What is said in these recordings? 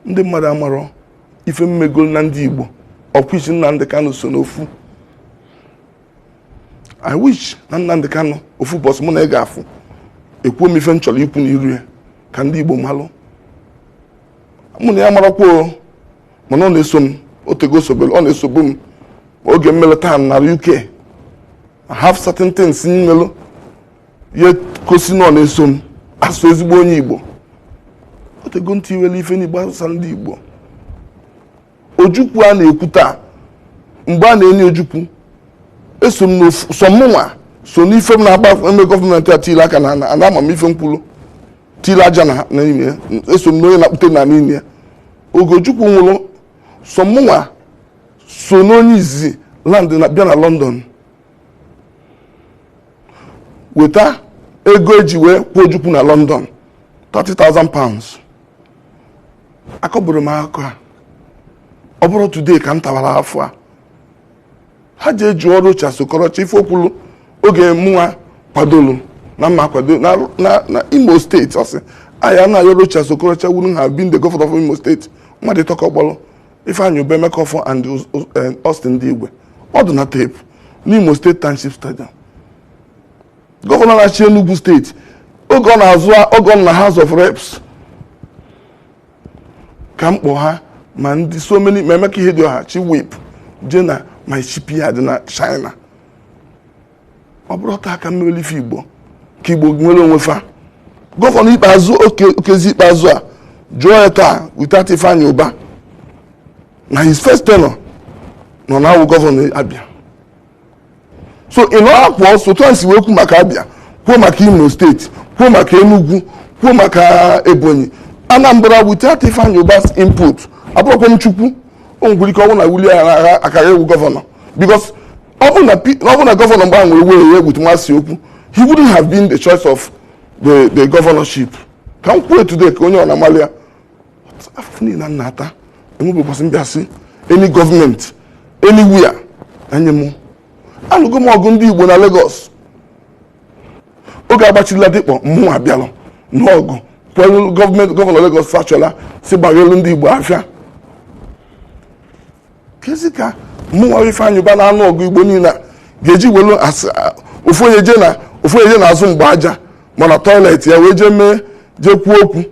ndị mmadụ amarọ ife m megolu na ndị Igbo of which Nnamdị Kanụ so n'ofu I wish na Nnamdị Kanụ ofu ụbọsị mụ na ya ga-afụ ekwuo m ife m chọrọ ikwu n'iru ya ka ndị Igbo malụ mụ na ya marakwa mana ọ na-eso m otego o sobere ọ na-esobu m oge m melụ taa nara UK I have certain things m melụ ihe gosi na ọ na-eso m asụ ezigbo onye igbo otego ntị iwere ife n'igbo asụsa ndị igbo ojukwu a na-ekwu taa mgbe a na-eni ojukwu eso m sọ mụnwa so n'ife m na-agba eme gọọmenti a tiri aka na ana ama m ife m kwulu tiri aja na n'ime ya eso m n'onye na-akpụte na n'ime ya oge ojukwu nwụrụ sọ mụnwa so n'onye izizi land na bịa na lọndọn weta ego eji wee kwuo ojukwu na london 30,000 pounds akọburọ m akọ a ọ bụrọ today ka m tawara afụfụ a ha jee jụọ Rochas Okorocha ife o kwulu oge mụnwa kwadolu na m ma-akwado na, na, na imo steeti ọ sị ya na ya Rochas Okorocha wouldn't have been the governor of imo steeti mmadụ ịtọ ka ọ kpọrọ Ifeanyi Ubah Emeka Offor and eh, Austin Ndigwe ọ dị na teepu n'Imo steeti Township Stadium gọvanọ na-achị Enugu steeti oge ọ na-azọ oge ọ nọ na House of Reps ka m kpọ ha ma ndị so many ma Emeka Ihedioha Chief Whip jee na my shipyard na China ọ bụrọ taa ka m melu ife igbo ka igbo nwere onwe fa gọvanọ ikpeazụ Okezie Ikpeazụ a jụọ ya taa without Ifeanyi Ubah na his first tenure na ọ ma-awụ gọvanọ Abia so ị nọ akwụ ọsọ etu m si wee kwuo maka Abia kwuo maka Imo steeti kwuo maka Enugu kwuo maka Ebonyi Anambra without Ifeanyi Ubah's input abụrọkwa m Chukwu o nwere ike ọ wụ na Willie akara awụ gọvanọ because ọ bụ na P- ọ bụ na gọvanọ mgbe ahụ nwere wee ya egbutu nwa si okwu he wouldn't have been the choice of the the governorship ka m kwuo today ka onye ọ bụna malụ ya afụfụ niile m na-ata enwebekwasị m bịa sị any gọọmenti anywhere anye m anụgo m ọgụ ndị igbo na Lagos oge a gbachili Ladipo mụ abịa lụọ ọgụ kwelu gọọmenti gọvanọ Lagos Fashola sị gbaghelu ndị igbo afịa kezi ka mụnwa Ifeanyị Uba na-anụ ọgụ Igbo niile ga-eji welu ofu onye je na ofu onye je na azụ mgba aja ma na toilet ya wee jee mee jee kwuo okwu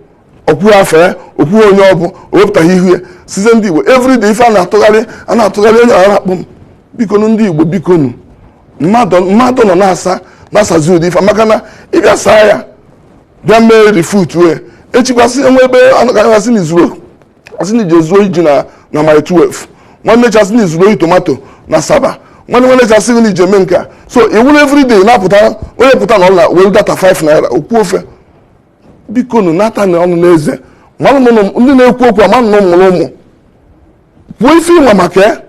okwu afọ ya okwu onye ọ bụ o wepụtaghị ihu ya size ndị Igbo everyday ife a na-atụgharị a na-atụgharị onye ara akpọ m bikonu ndị Igbo bikonu mmadụ nọ na-asa na-asazi ụdị ife maka na ịbịa saa ya bịa mee refute wee echi kwa asị enwe ebe anọ ga-asị n'izuru asị na ije zuo ji na na Mile 12 nwanne echi asị na izuru ori tomato na Asaba nwanne nwanne echi asị na ije mee nke a so iwuru everyday na-apụta onye pụta na ụla were data 5 naira o kwuo ife bikonu nata na ọnụ n'eze mmanụ na ụmụ- ndị na-ekwu okwu amanụ na ị mụrụ ụmụ kwuo ife ị ma maka ya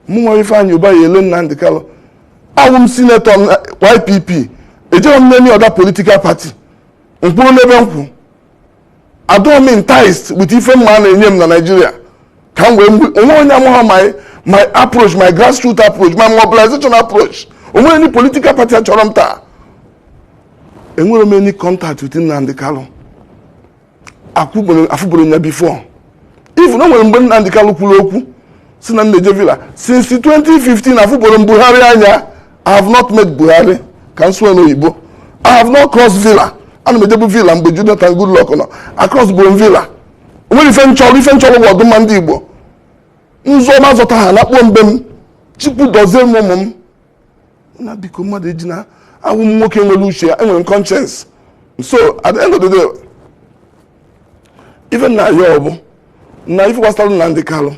mụnwa Ifeanyị Uba ya ele Nnamdi Kanu awụ m senator na YPP ejeghị m n'any other political party m kwụrụ n'ebe m kwụ adọọ m enticed with ife mmadụ na-enye m na Naịjirịa ka m gwa ị o nwe onye amaghọ my my approach my grassroots approach my mobilization approach onwere any political party achọrọ m taa enwere m any contact with Nnamdi Kanu afụbụrọ m ya before even o nwere mgbe Nnamdi Kanu kwuru okwu sị na m na-eje Villa since 2015 afụbụrọ m Buhari anya i have not met buhari ka m sụọ n'oyibo i have not crossed villa ana m ejebu villa mgbe jonathan goodluck nọ across bụ villa onwere ife m chọrọ ife m chọrọ bụ ọdụmma ndị igbo m zọ ma azọta ha nakpuo m be m chukwu dozie m ụmụ m na biko mmadụ eji na awụ m nwoke nwere uche enwere m conscience so at the end of the day even na ya ọ bụ na ife gbasara Nnamdi Kanu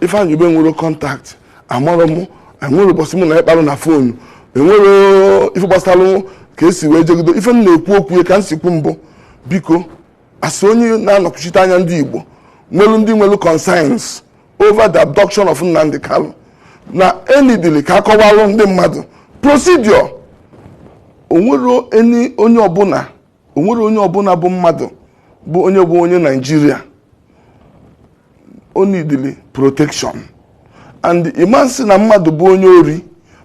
Ifeanyi Uba enwerọ contact amarọ m enwerọ ụbọchị mụ na ya kparụ na phone enwere ife gbasara ka esi wee je jido ife m na-ekwu okwu ya ka m si kwuo mbụ biko as onye na-akwụchite anya ndị Igbo nwelu ndị nwelu concerns over the abduction of Nnamdi Kanu na e needili ka akọwalụ ndị mmadụ procedure onwere onye ọbụla o nwere onye ọbụla bụ mmadụ bụ onye bụ onye naijiria o needili protection and ị ma-asị na mmadụ bụ onye ori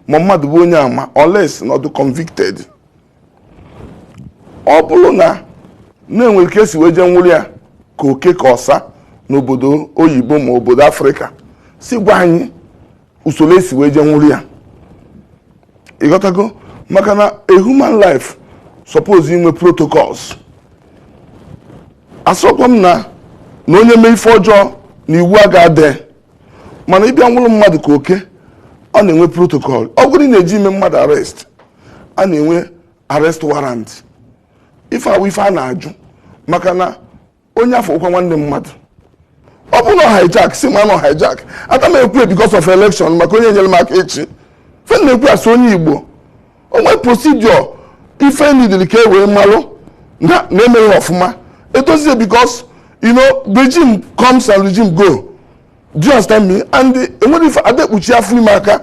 ma mmadụ bụ onye ama unless na ọdụ convicted ọ bụrụ na na enwere ka esi wee jee nwụrụ ya ka oke ka ọsa n'obodo oyibo ma obodo afrịka si gwa anyị usoro esi wee je nwụrụ ya ịghọtago maka na a human life suppose inwe protocols asọkwa m na na onye mee ife ọjọọ na iwu aga-adị mana ịbịa nwụrụ mmadụ ka oke ọ na-enwe protocol ọ bụrụ na ị na-eje ime mmadụ arrest a na-enwe arrest warrant ife a wụ ife a na-ajụ maka na onye afọ ụkwa nwanne mmadụ ọ bụrụ na hijack sị m na ọ hijack ada m ekwu because of election maka onye nyere m aka echi ife m na-ekwu asị onye igbo onwe procedure ife nidiri ka e wee malụ na na-emeghị ọfụma edozie because you know regime comes and regime go do you understand me and enwere ife ada ekpuchi afọ ime aka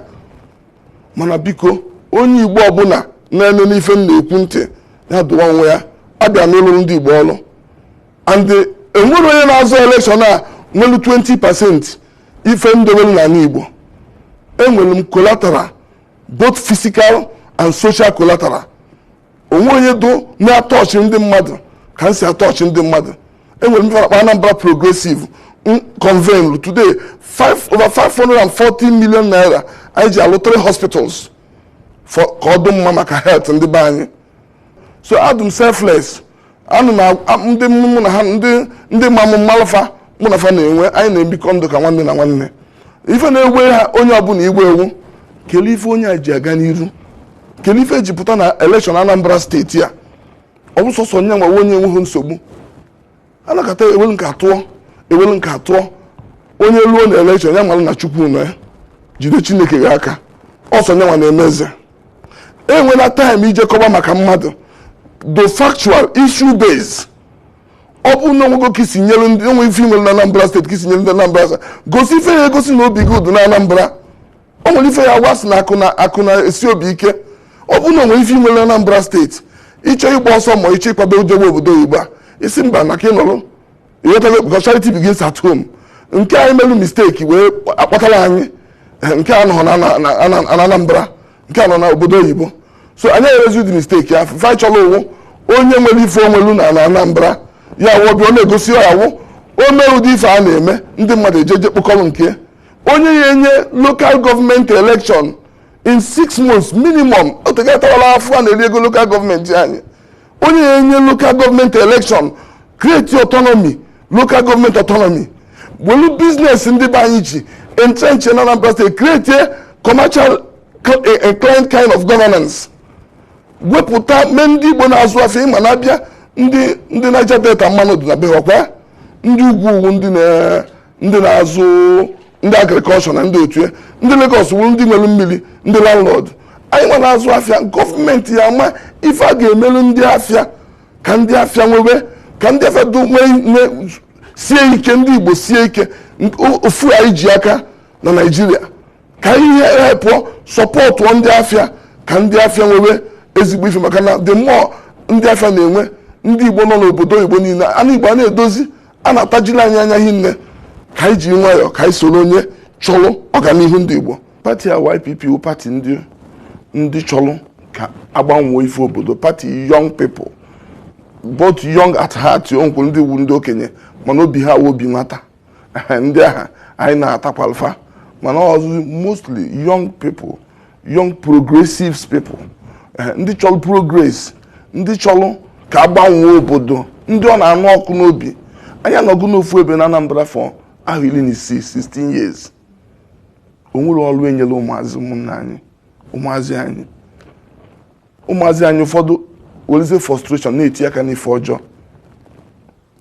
mana biko onye igbo ọbụla na-eṅe ife m na-ekwu ntị ya dụwa onwe ya abịa m ịlụrụ ndị igbo ọrụ and enwere onye na-azọ elekshọn a nwelu 20 pasent ife m dowelu n'ana Igbo enwere m collateral both physical and social collateral o nwehọ onye dụ na-atọchị ndị mmadụ ka m si atọchị ndị mmadụ enwere m ife a na-akpọ Anambra progressive convene today over 540 million naira anyị ji alụ three hospitals ka ọ dị mma maka health ndị be anyị so adụ m selfless ana m agwa- a- ndị mụ na ha ndị ndị ma mụ mụ malụ fa mụ na fa na-enwe anyị na-ebikọ ndụ ka nwanne na nwanne ife na-ewe ha onye ọbụla iwe wụ kelee ife onye a ji aga n'iru kelee ife e ji pụta na elekshọn anambra steeti a ọ wụ sọsọ nya nwa wụ onye enweghị nsogbu anakọta ewelu nke a tụọ ewelu nke a tụọ onye luo na elekshọn ya malụ na chukwu nọ ya jide chineke gị aka ọ sọ nya nwa na-eme eze enwela taịm ije kọba maka mmadụ do factual issue based ọ bụrụ na o nwego ka i si nyere ndị o nwe ife i nwere na anambra steeti ka i si nyere ndị anambra aka gosi ife ya-egosi na obi gị dụ na anambra o nwere ife ya agwa sị na akụ na akụ na-esi obi ike ọ bụrụ na o nwere ife i nwelu na Anambra steeti ịchọ ịgba ọsọ ma ịchọ ịkwado ije gba obodo oyibo a sị mba na ka ị nọrọ ịghọtago because charity begins at home nke anyị melu mistake wee akpatara anyị eh, nke a nọ na na- na- na- na Anambra nke a nọ na obodo oyibo so anyị emezi ụdị mistake ya fa chọrọ ọ wụ onye nwere ife o nwelu na na Anambra ya wụ obi a ọ na-egosi ya wụ o mee ụdị ife a na-eme ndị mmadụ ejeje kpokọrọ nke ya onye ya enye lokal gọọmenti elekshọn in six months minimum otegatawala afọ a na-eri ego lokal gọọmenti anyị onye ya enye lokal gọọmenti elekshọn kreti ọtọnọmi lokal gọọmenti ọtọnọmi welu biznes ndị be anyị ji entrench na Anambra steeti kreti commercial inclined kind of governance wepụta mee ndị Igbo na-azụ afịa ị ma na abịa ndị ndị Niger Delta mmanụ dị na be ha ọkwa ndị ugwu ugwu ndị na ndị na-azụ ndị agrikọlshọ na ndị otu ya ndị Lagos wụrụ ndị nwere mmiri ndị landlord anyịnwa na-azụ afịa gọọmenti ya-ama ife a ga-emelu ndị afịa ka ndị afịa nwebe ka ndị afịa do- nwee nwee- sie ike ndị Igbo sie ike n- o- ofu anyị ji aka na Naịjirịa ka ihe ha pụọ sọpọtụọ ndị afịa ka ndị afịa nwebe ezigbo ife maka na the more ndị afịa na-enwe ndị Igbo nọ n'obodo Igbo niile ana Igbo a na-edozi a na-atajiri anyị anya hinne ka anyị ji nwayọọ ka anyị soro onye chọrọ ọganihu ndị Igbo pati a YPP wụ pati ndị ndị chọrọ ka a gbanwee ife obodo pati young people both young at heart o nwekwuru ndị wụ ndị okenye mana obi ha wụ obi nwata ndị ahụ anyị nabatakwalụ fa mana ọ wụzi mostly young people young progressive people eh, ndị chọrọ progress ndị chọrọ ka a gbanwee obodo ndị ọ na-anụ ọkụ n'obi anyị anọgo n'ofu ebe na Anambra for ahọ iri na isii 16 years o nwere ọrụ e nyere ụmụazị ụmụnna anyị ụmụazị anyị ụmụazị anyị ụfọdụ weleze frustration na-etinye aka n'ife ọjọọ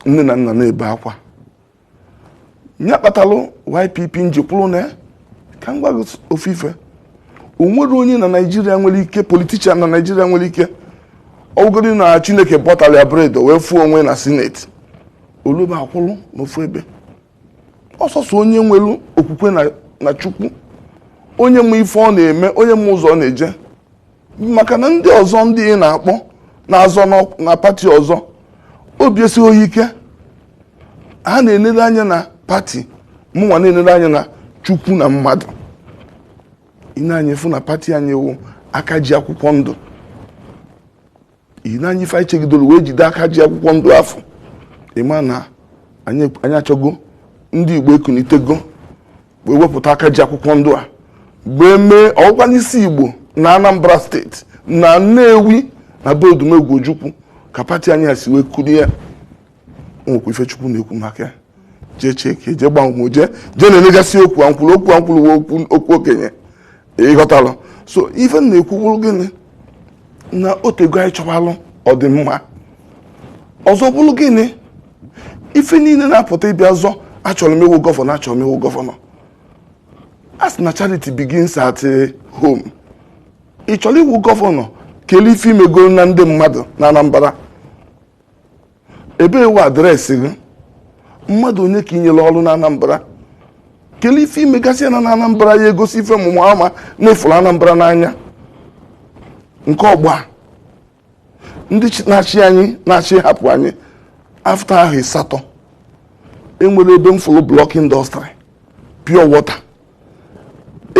nne na nna na-ebe akwa nya kpatalụ YPP m ji kwuru nee ka m gwa gị ofu ife o nwere onye na naijiria nwere ike politician na naijiria nwere ike ọ wụgodi na chineke bọtara ya bread wee fụ onwe na Senate oluba akwụrụ n'ofu ebe ọ sọsọ onye nwere okwukwe na chukwu onye ma ife ọ na-eme onye ma ụzọ ọ na-eje maka na ndị ọzọ ndị ị na-akpọ na-azọ n'ọk- na pati ọzọ obi esighị ha ike ha na-enere anya na pati mụnwa na-enere anya na chukwu na mmadụ i nee anya ị fụ na pati anyị wụ aka ji akwụkwọ ndụ ihi na anyị ife anyị chegidoro wee jide aka ji akwụkwọ ndụ afụ ị ma na anyị anyị achọgo ndị igbo ekunitego wee wepụta aka ji akwụkwọ ndụ a wee mee ọ wụkwa n'isi igbo na anambra steeti na nnewi na be odumegwu ojukwu ka pati anyị a si wee kulie ya nwekwa ife chukwu na-ekwu maka ya jee cheke jee gbanwe jee jee na-elegasị okwu ankwụrụ okwu ankwụrụ wee okwu okwu okenye ịghọtara so ife m na-ekwu bụrụ gịnị na o tego anyị chọwalụ ọdịmma ọzọ bụrụ gịnị ife niile na-apụta ịbịa zọ achọrọ m ịwụ gọvanọ achọrọ m ịwụ gọvanọ a sị na charity begins at eh, home ị chọrọ ịwụ gọvanọ kelee ife i mego na ndị mmadụ na anambra ebee wụ address gị mmadụ one ka i nyere ọrụ na Anambra kelee ife i megasịala na Anambra ya-egosi ife mụmụ ama na ị fụrụ Anambra n'anya nke ọgba ndị na-achị anyị na-achị hapụ anyị after ahọ ịsatọ e nwere ebe m fụrụ block industry pure water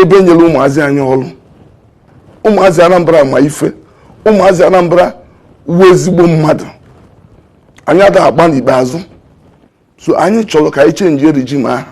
ebe m nyere ụmụazị anyị ọrụ ụmụazị Anambra ma ife ụmụazị Anambra wụ ezigbo mmadụ anyị ada agba n'ikpeazụ so anyị chọrọ ka anyị change regime ahụ